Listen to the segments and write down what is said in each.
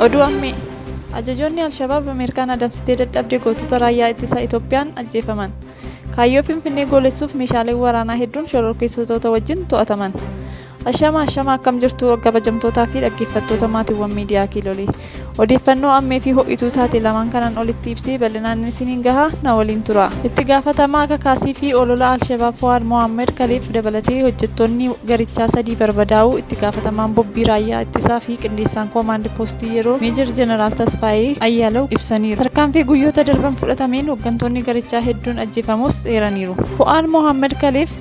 Oduu ammee ajajoonni Alshabaab Ameerikaan adamsitee dadhabde gootota raayyaa ittisa Itoophiyaan ajjeefaman. Kaayyoo Finfinnee goolessuuf meeshaaleen waraanaa hedduun shororkeessitoota wajjin to'ataman. Ashama ashama akkam jirtu kabajamtootaa fi dhaggeeffattoota maatiiwwan miidiyaa kiilolee. Odeeffannoo ammee fi ho'ituu taate lamaan kanaan olitti ibsee bal'inaan isiniin gaha na waliin tura. Itti gaafatamaa kakaasii fi olola Alshabaab Fuwaad Mohaammed Kaliif dabalatee hojjettoonni garichaa sadii barbadaa'uu itti gaafatamaan bobbii raayyaa ittisaa fi qindeessaan koomaandi poostii yeroo Meejar Jeneraal Tasfaayee Ayyaalaw ibsaniiru. Tarkaanfii guyyoota darban fudhatameen hooggantoonni garichaa hedduun ajjeefamuus eeraniiru. Fuwaad Mohaammed Kaliif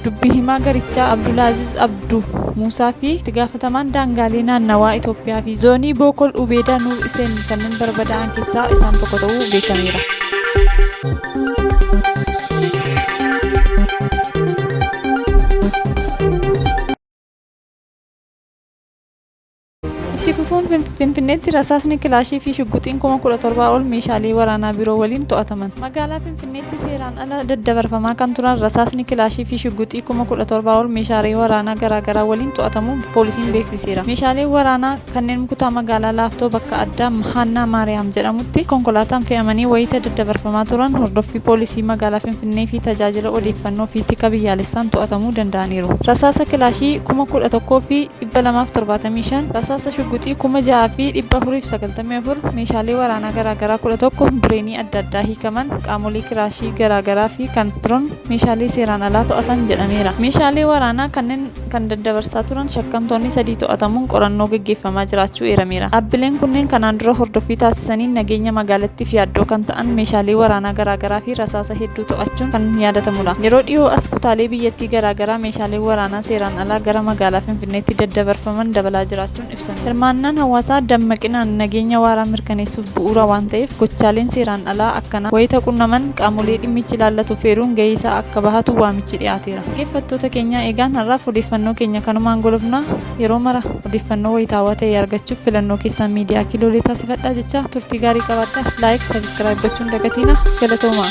Dubbi himaa garichaa Abdulaaziz Abdu Muusaa fi itti gaafatamaan daangaalee naannawaa Itoophiyaa fi zoonii Bookol Ubeedaa Nuur Iseen kanneen barbadaa'an keessaa isaan tokko ta'uu beekameera. Itti fufuun Finfinneetti rasaasni kilaashii fi shugguxiin kuma kudha torbaa ol meeshaalee waraanaa biroo waliin to'ataman. Magaalaa Finfinneetti seeraan ala daddabarfamaa kan turan rasaasni kilaashii fi shugguxii kuma kudha torbaa ol meeshaalee waraanaa garaagaraa waliin to'atamuu poolisiin beeksiseera. Meeshaaleen waraanaa kanneen kutaa magaalaa Laaftoo bakka addaa Haannaa Maariyaam jedhamutti konkolaataan fe'amanii wayita daddabarfamaa turan hordoffii poolisii magaalaa Finfinnee fi tajaajila odeeffannoo fi tika biyyaalessaan to'atamuu danda'aniiru. Rasaasa kilaashii kuma kudha tokkoo fi 275, rasaasa shugguxii 6494, meeshaalee waraanaa garaagaraa 11, bireenii adda addaa hiikaman, qaamolee kiraashii garaagaraa fi kan biroon meeshaalee seeraan alaa to'atan jedhameera. Meeshaalee waraanaa kanneen kan daddabarsaa turan shakkamtoonni sadii to'atamuun qorannoo gaggeeffamaa jiraachuu eerameera. Dhaabbileen kunneen kanaan dura hordoffii taasisaniin nageenya magaalattiif yaaddoo kan ta'an meeshaalee waraanaa garaagaraa fi rasaasa hedduu to'achuun kan yaadatamudha. Yeroo dhiyoo as kutaalee biyyattii garaagaraa meeshaaleen waraanaa seeraan alaa gara magaalaa Finfinneetti daddabarfaman dabalaa jiraachuun ibsameera. Hirmaannaan hawaasaa dammaqinaan nageenya waaraa mirkaneessuuf bu'uura waan ta'eef gochaaleen seeraan alaa akkanaa wayita qunnaman qaamolee dhimmichi ilaallatu feeruun gahee isaa akka bahatu waamichi dhiyaateera. Dhaggeeffattoota keenyaa eegaan har'aaf odeeffannoo keenya kanumaan golofna. Yeroo mara odeeffannoo wayitaawaa ta'e argachuuf filannoo keessaan Miidiyaa Kiloolee taasifadhaa jechaa turtii gaarii qabaadhaa. Like, Subscribe gochuu hin dagatinaa. Galatoomaa!